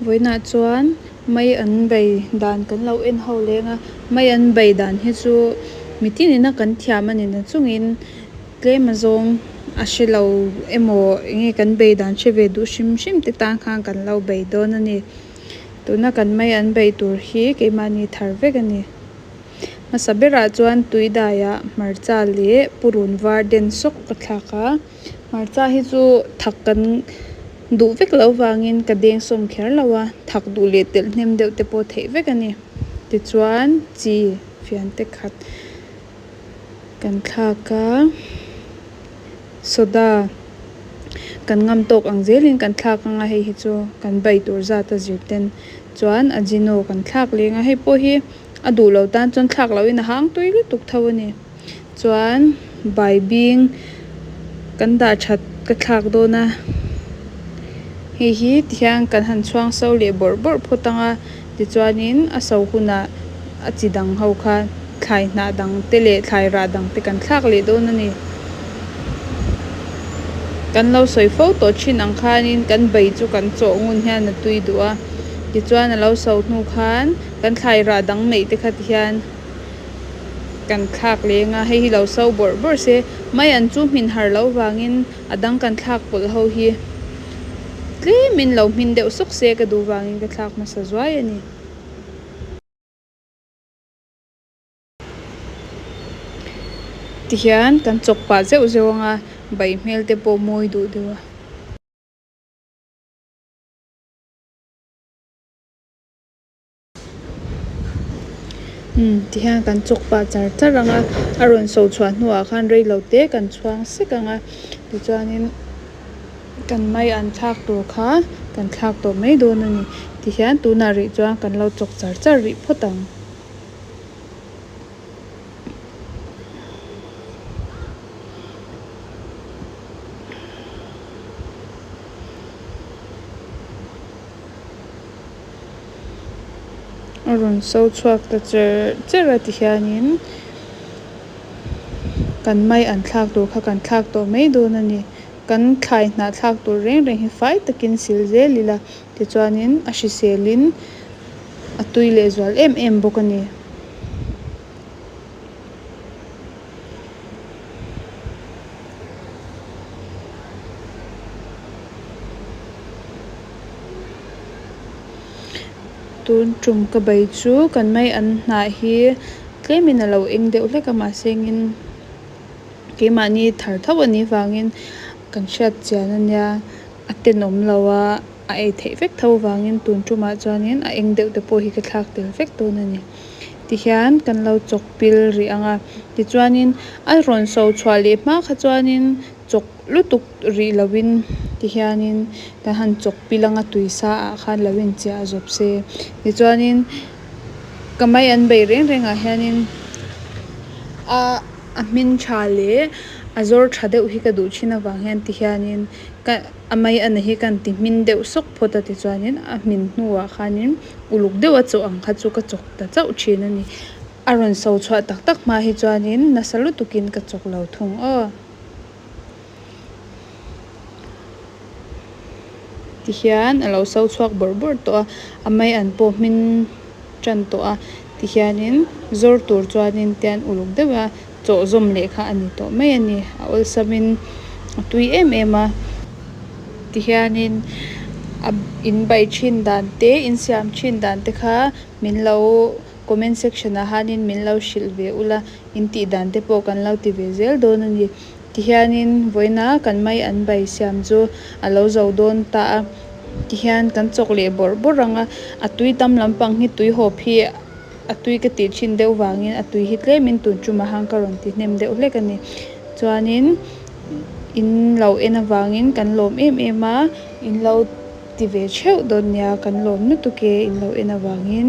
vawiinah chuan mai an bei dan kan lo en ho leng a, mai an bei dan hi chu mitinina kan thiam a nina chungin tlema zawng a hre lo emaw enge kan bei dan hre ve duh hrim hrim te tan khan kan lo bei dawn a ni. Tuna kan mai an bei tur hi keimahni thar vek a ni. Hmasa berah chuan tui daiah hmarcha leh purun var den sawk ka thlak a. Hmarcha hi chu thak kan duh vek loh vangin ka deng sawm kher lo a, thak duh leh telh hnem deuh te pawh theih vek a ni. Tichuan chi fian te khat kan thlak a, soda kan ngam tawk ang zelin kan thlak ang a, hei hi chu kan bai tur zat a zirten chuan Ajino kan thlak leng a, hei pawh hi a duh lo tan chuan thlak lohin a hang tui lutuk tho a ni. Chuan baibing kan dah that ka thlak dawn a, hei hi tihian kan han chhuang so leh bawrh bawrh phawt ang a, tichuanin a so hunah a chi dang ho khan thlai hnah dang te leh thlai rah dang te kan thlak leh dawn a ni. Kan lo sawi fo tawh thin ang khanin kan bai chu kan chaw ngun hian a tui duh a, tichuan a lo so hnu khan kan thlai rah dang neih te kha ti hian. kan thlak leng a hei hi lo so bawrh bawrh se mai an chu hmin har loh vangin a dang kan thlak pawlh ho hi tlem in lo hmin deuh sawk se ka duh vangin ka thlak hmasa zuai a ni. Tihian kan chawk pah zeuh zeuh ang a, bai hmel te pawh mawi duh deuh a. Umm ti hian kan chawk pa char char ang a a rawn so chhuah hnu ah khan reilo te kan chhuang sek ang a tichuanin kan mai an thlak tur kha kan thlak tawh mai dawn a ni ti hian tunah rih chuan kan lo chawk char char rih phawt ang. a rawn so chhuak ta cher cher a tihianin kan mai an thlak tur kha kan thlak tawh mai dawn a ni. Kan thlai hnah thlak tur reng reng hi fai takin sil zel ila tichuanin a hriselin a tui lehzual em em bawk a ni. tun ṭum ka bei chu kan mai an hnah hi tlem in a lo eng deuh hlek a mahse ngin keimahni thar tho a nih vangin kan hriat chian a nia a tenawm lo a a ei theih vek tho vangin tun ṭumah chuan in a eng deuh te pawh hi ka thlak tel vek dawn a ni. ti hian kan lo chawkpil rih ang a, tichuanin a rawn so chhuah leh hma kha chuanin chawk lutuk rih lovin ti hianin kan han chawkpil ang a, tui sa ah khan lo inchiah zawp se tichuanin ka mai an bei reng reng ah hianin a a hmin tha leh a zawr tha deuh hi ka duh thin avang hian ti hianin ka a mai a na hi ka han ti hmin deuh sawk phawt a, tichuanin a hmin hnu ah khanin. uluk deuh a chawh ang kha chu ka chawk ta chauh thin a ni. A rawn so chhuah tak tak hma hi chuanin nasa lutuk in ka chawk lo thung aw. Ti hian a lo so chhuak bawrh bawrh tawh a, a mai an pawh hmin tan tawh a ti hianin zawr tur chuanin tian uluk deuh a. Chawhzawm leh kha a ni tawh mai a ni. A awlsamin a tui em em a. Tihianin a in bai thin dan te, in siam thin dan te kha min lo comment section ah hanin min lo hrilh ve ula, in tih dan te pawh kan lo ti ve zel dawn a ni. Tihianin vawiina kan mai an bai siam chu a lo zo dawn ta a. Tihian kan chawk leh bawrh bawrh ang a. A tui tam lampang hi tui hawp hi A tui ka tih chin deuh vangin a tui hi tlemin tun tum ahang ka rawn ti hnem deuh hlek a ni. Chuanin in lo en avangin kan lawm em em a, in lo ti ve theuh dawn nia kan lawm lutuk e in lo en avangin.